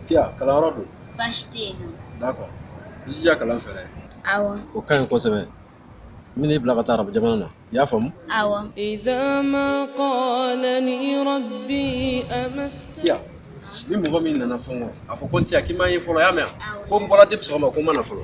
Kiya, kalanyɔrɔ dun? Baasi tɛ yen nɔ. D'accord i jija kalan fɛ dɛ. Awɔ. O ka ɲi kosɛbɛ. N bɛna i bila ka taa arabu jamana na. I y'a faamu? Awɔ. Kiya, ni mɔgɔ min nana fɛn o fɛn, a fɔ ko n tɛ yan, k'i ma n ye fɔlɔ, i y'a mɛn wa? Awɔ. Ko n bɔra depuis sɔgɔma ko n ma na fɔlɔ.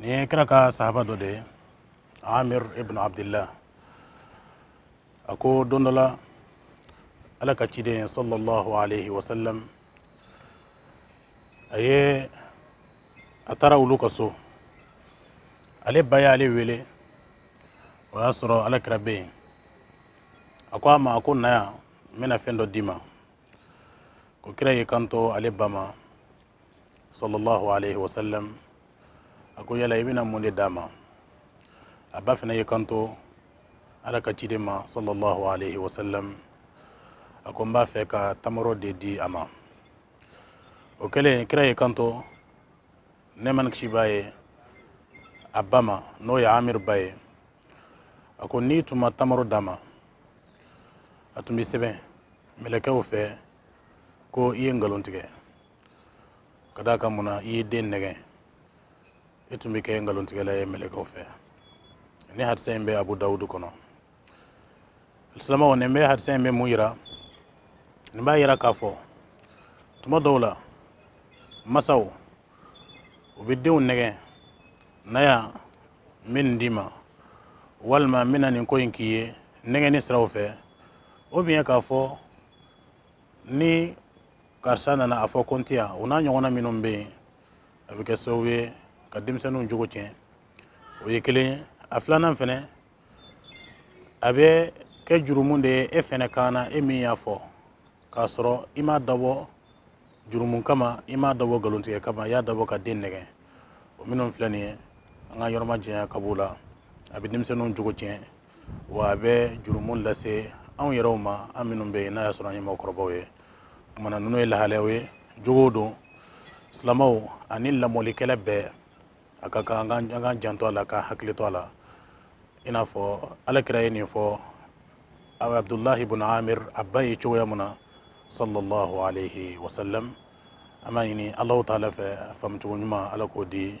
nin ye kira ka sahaba dɔ de ye amir ibn abdillah a ko don dɔ la ala ka ciden sallallahu alaihi wasallam a ye a taara olu ka so ale ba ye ale wele o y'a sɔrɔ ala kira bɛ yen a ko a ma a ko na yan n bɛna fɛn dɔ d'i ma ko kira y'i kanto ale ba ma sallallahu alaihi wasallam a ko yala i bɛna mun de d'a ma a ba fana y'i kanto ala ka ciden ma sallallahu alaihi wasallam a ko n b'a fɛ ka tamaro de di a ma o kɛlen kira y'i kanto nɛɛma ni kisi b'a ye a ba ma n'o ye amir ba ye a ko n'i tun ma tamaro d'a ma a tun bɛ sɛbɛn mɛlɛkɛw fɛ ko i ye nkalon tigɛ ka d'a kan mun na i ye den nɛgɛn e tun bɛ kɛ nkalontigɛla ye mɛlɛkɛw fɛ nin hadisa in bɛ abu dawudu kɔnɔ alisilamɛw nin bɛ hadisa in bɛ mun yira nin b'a yira k'a fɔ tuma dɔw la masaw u bɛ denw nɛgɛn na yan n bɛ nin d'i ma walima n bɛna nin ko in k'i ye nɛgɛnni siraw fɛ ou bien k'a fɔ ni karisa nana a fɔ ko n tɛ yan o n'a ɲɔgɔnna minnu bɛ yen a bɛ kɛ sababu ye ka denmisɛnninw jogo tiɲɛ o ye kelen ye a filanan fana a bɛ kɛ jurumu de ye e fɛnɛ kan na e min y'a fɔ k'a sɔrɔ i m'a dabɔ jurumu kama i m'a dabɔ nkalontigɛ kama i y'a dabɔ ka den nɛgɛ o minnu filɛ nin ye an k'an yɔrɔmajanya ka b'o la a bɛ denmisɛnninw jogo tiɲɛ wa a bɛ jurumu lase anw yɛrɛw ma an minnu bɛ yen n'a y'a sɔrɔ an ye mɔgɔkɔrɔbaw ye kumana ninnu ye lahalayaw ye jogow don silamaw ani lamɔlikɛla bɛɛ a ka kan an k'an janto a la k'an hakili to a la i n'a fɔ alakira ye nin fɔ abdulahi bun amir a ba ye cogoya min na sallallahu alayhi wa sallam an b'a ɲini alahu taala fɛ a faamucogo ɲuman ala k'o di